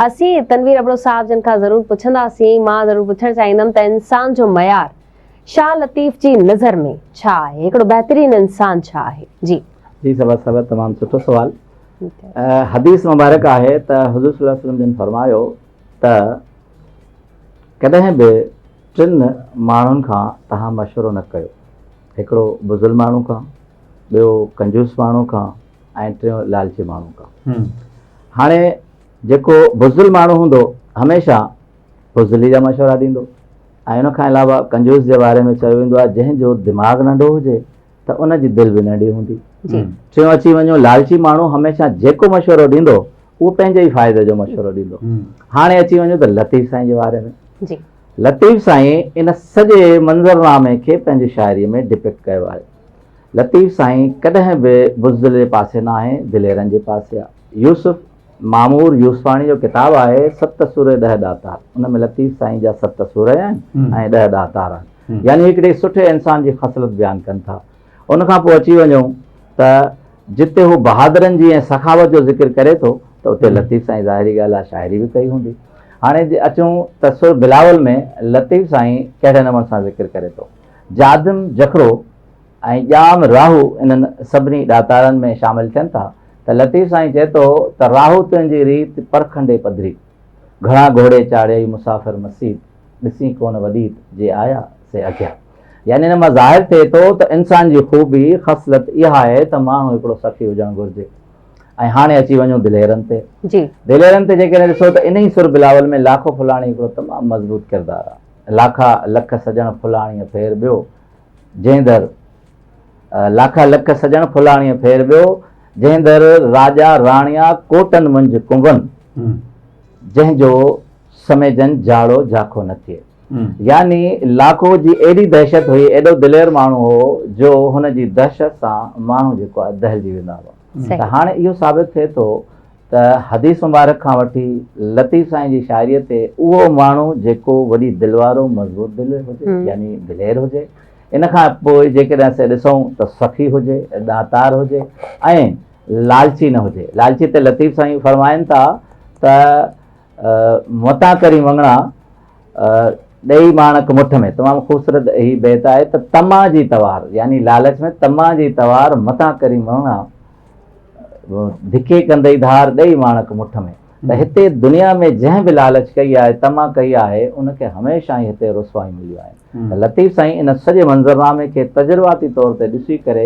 اسين تنوير ابڙو صاحب جن کان ضرور پڇنداسين، مان ضرور پڇڻ چاهيندم ته انسان جو معيار شاهه لطيف جي نظر ۾ ڇا آهي؟ هڪڙو بهترين انسان ڇا آهي؟ جي. جي سرور صاحب تمام سٺو سوال حديث مبارڪ آهي ته حضور صلي الله عليه وسلم جن فرمايو ته ڪڏهن به ٽن ماڻهن کان توهان مشورو نه ڪيو هڪڙو بزل ماڻهو کان ٻيو ڪنجوس ماڻهو کان ۽ ٽيون لالچي ماڻهو ڪا هاڻي جيڪو بزدل ماڻهو هوندو هميشه بزدلي جا مشورا ڏيندو ۽ ان کان علاوه ڪنجوس جي باري ۾ چيو ويندو آهي جنهن جو دماغ ننڍو هجي ته ان جي دل به ننڍي هوندي ٽيون اچي وڃو لالچي ماڻهو هميشه جيڪو مشورو ڏيندو اهو پنهنجي ئي فائدي جو مشورو ڏيندو هاڻي اچي وڃو ته لطيف سائين جي باري ۾ لطيف سائين ان سڄي منظرنامي کي پنهنجي شاعري ۾ ڊپڪٽ ڪيو آهي لطيف سائين ڪڏهن به بزدل جي پاسي ناهي، دليرن جي پاسي آ. يوسف معمور يوسفاڻي جو ڪتاب آهي ست سورهيه ڏهه ڏاتار، ان ۾ لطيف سائين جا ست سورهيه آهن ۽ ڏهه ڏاتار آهن. يعني هڪڙي سٺي انسان جي خصلت بيان ڪن ٿا. ان کان پوء اچي وڃون ته جتي هو بهادرن جي ۽ سخاوت جو ذڪر ڪري ٿو ته اتي لطيف سائين ظاهري ڳالهه آ شاعري به ڪئي هوندي. هاڻي جي اچون ته سر بلاول ۾ لطيف سائين ڪهڙي نموني سان ذڪر ڪري ٿو. جادم جکرو. ۽ ڄام راهو انهن سڀني ڏاتارن ۾ شامل ٿين ٿا ته لطيف سائين چئي ٿو ته راهو تنهنجي ريت پرکنڊي پڌري، گهڻا گهوڙي چاڙهيئي مسافر مسيت، ڏسين ڪونه وڏيت، جي آيا سي اگهيا. يعني ان مان ظاهر ٿئي ٿو ته انسان جي خوبي، خصلت، اها آهي ته ماڻهو هڪڙو سخي هجڻ گهرجي ۽ هاڻي اچي وڃون دليرن تي. دليرن تي جيڪڏهن ڏسو ته انهي سر بلاول ۾ لاکو ڦلاڻي هڪڙو تمام مضبوط ڪردار آهي. لاکا لک سڄڻ ڦلاڻيء ڦير ٻيو جنهن در لاکا لک سڄڻ ڦلاڻيء ڦير ٻيو جنهن در راڄا راڻيا ڪوٽن منجھ ڪنون جنهن جو سميجن جاڙو جاکو نه ٿئي يعني لاکو جي ايڏي دهشت هئي ايڏو دلير ماڻهو هو جو هن جي دهشت سان ماڻهو جيڪو آهي دهلجي ويندا هئا. ته هاڻي اهو ثابت ٿئي ٿو ته حديث مبارڪ کان وٺي لطيف سائين جي شاعريء تي اهو ماڻهو جيڪو وڏي دل وارو مضبوط دل هجي يعني دلير هجي ان کان پوء جيڪڏهن اسين ڏسون ته سخي هجي ڏاتار هجي ۽ لالچي نه هجي لالچي تي لطيف سائين فرمائن ٿا ته متان ڪرين وڱڻا، ڏئي ماڻڪ مٺ ۾. تمام خوبصورت هي بيت آهي ته طمع جي توار يعني لالچ ۾ طمع جي توار متان ڪرين وڱڻا، ڌڪي ڪندئي ڌار ڏئي ماڻڪ مٺ ۾. ته هتي دنيا ۾ جنهن به لالچ ڪئي آهي، طمع ڪئي آهي، ان کي هميشه ئي هتي رسوايون مليون آهن. ته لطيف سائين ان سڄي منظرنامي کي تجرباتي طور تي ڏسي ڪري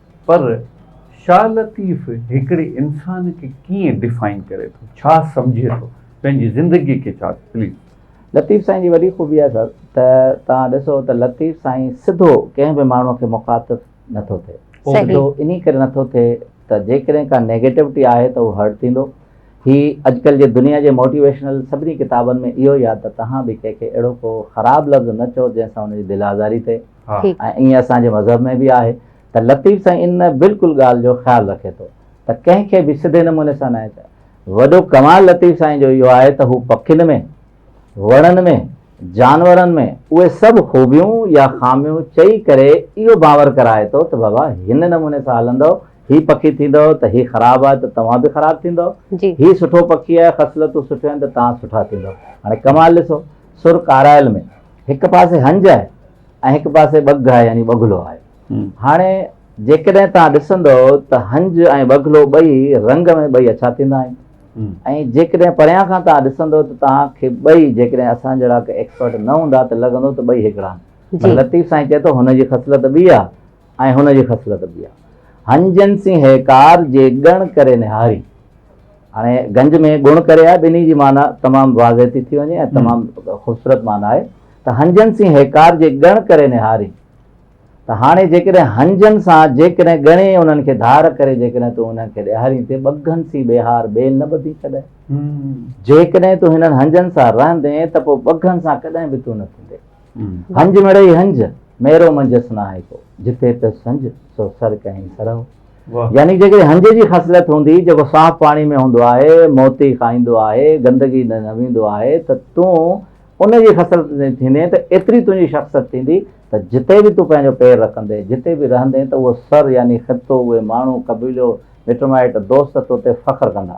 پر شاهه لطيف هڪڙي انسان کي ڪيئن ڊفائن ڪري ٿو ڇا سمجهي ٿو پنهنجي زندگي کي ڇا پليز. لطيف سائين جي وڏي خوبي آهي سر ته توهان ڏسو ته لطيف سائين سڌو ڪنهن به ماڻهو کي مخاطب نٿو ٿئي سڌو انهي ڪري نٿو ٿئي ته جيڪڏهن ڪا نيگيٽوٽي آهي ته اهو هرٽ ٿيندو هي اڄڪلهه جي دنيا جي موٽيويشنل سڀني ڪتابن ۾ اهو ئي آهي ته توهان به ڪنهن کي اهڙو ڪو خراب لفظ نه چئو جنهن سان ان جي دل آزاري ٿئي. ٺيڪ. ۽ ائين اسان جي مذهب ۾ به آهي ته لطيف سائين ان بلڪل ڳالهه جو خيال رکي ٿو ته ڪنهن کي به سڌي نموني سان ناهي چئبو. وڏو ڪمال لطيف سائين جو اهو آهي ته هو پکين ۾، وڻن ۾، جانورن ۾ اهي سڀ خوبيون يا خاميون چئي ڪري اهو باور ڪرائي ٿو ته بابا هن نموني سان هلندؤ، هي پکي ٿيندؤ ته هي خراب آهي ته توهان به خراب ٿيندؤ، هي سٺو پکي آهي خصلتون سٺيون آهن ته توهان سٺا ٿيندؤ. هاڻي ڪمال ڏسو سر ڪارائل ۾. هڪ پاسي هنج آهي ۽ هڪ پاسي ٻگهه آهي يعني ٻگهلو آهي هاڻي جيڪڏهن توهان ڏسندو ته هنج ۽ ٻگهلو ٻئي رنگ ۾ ٻئي اڇا ٿيندا آهن ۽ جيڪڏهن پريان کان توهان ڏسندو ته توهان کي ٻئي جيڪڏهن اسان جهڙا ايڪسپرٽ نه هوندا ته لڳندو ته ٻئي هڪڙا آهن لطيف سائين چئي ٿو هن جي خصلت ٻي آهي ۽ هن جي خصلت ٻي آهي هنجن سين هيڪار جي ڳڻ ڪري نهاري هاڻي گنج ۾ گڻ ڪري آهي ٻنهي جي معنيٰ تمام واضح ٿي ٿي وڃي ۽ تمام خوبصورت معنيٰ آهي ته هنجن سين هيڪار جي ڳڻ ڪري نهارين ته هاڻي جيڪڏهن هنجن سان جيڪڏهن ڳڻي انهن کي ڌار ڪري جيڪڏهن تون انهن کي ڏيهارين تي ٻگهن سين ٻيهار ٻين نه ٻڌين ڪڏهن جيڪڏهن تون هنن هنجن سان رهندين ته پوء ٻگهن سان ڪڏهن به تون نه ٿيندين هنج مڙئي هنج ميرو منجهس ناهي ڪو جتي پيس سنج سو سر ڪهين سرهو يعني جيڪڏهن هنج جي خصلت هوندي جيڪو صاف پاڻي ۾ هوندو آهي، موتي کائيندو آهي، گندگي نه ويندو آهي ته تون ان جي خصلت جي ٿيندين ته ايتري تنهنجي شخصت ٿيندي ته جتي به تون پنهنجو پير رکندين، جتي به رهندين ته اهو سر يعني خطو، اهي ماڻهو، قبيلو، مٽ مائٽ، دوست توتي فخر ڪندا.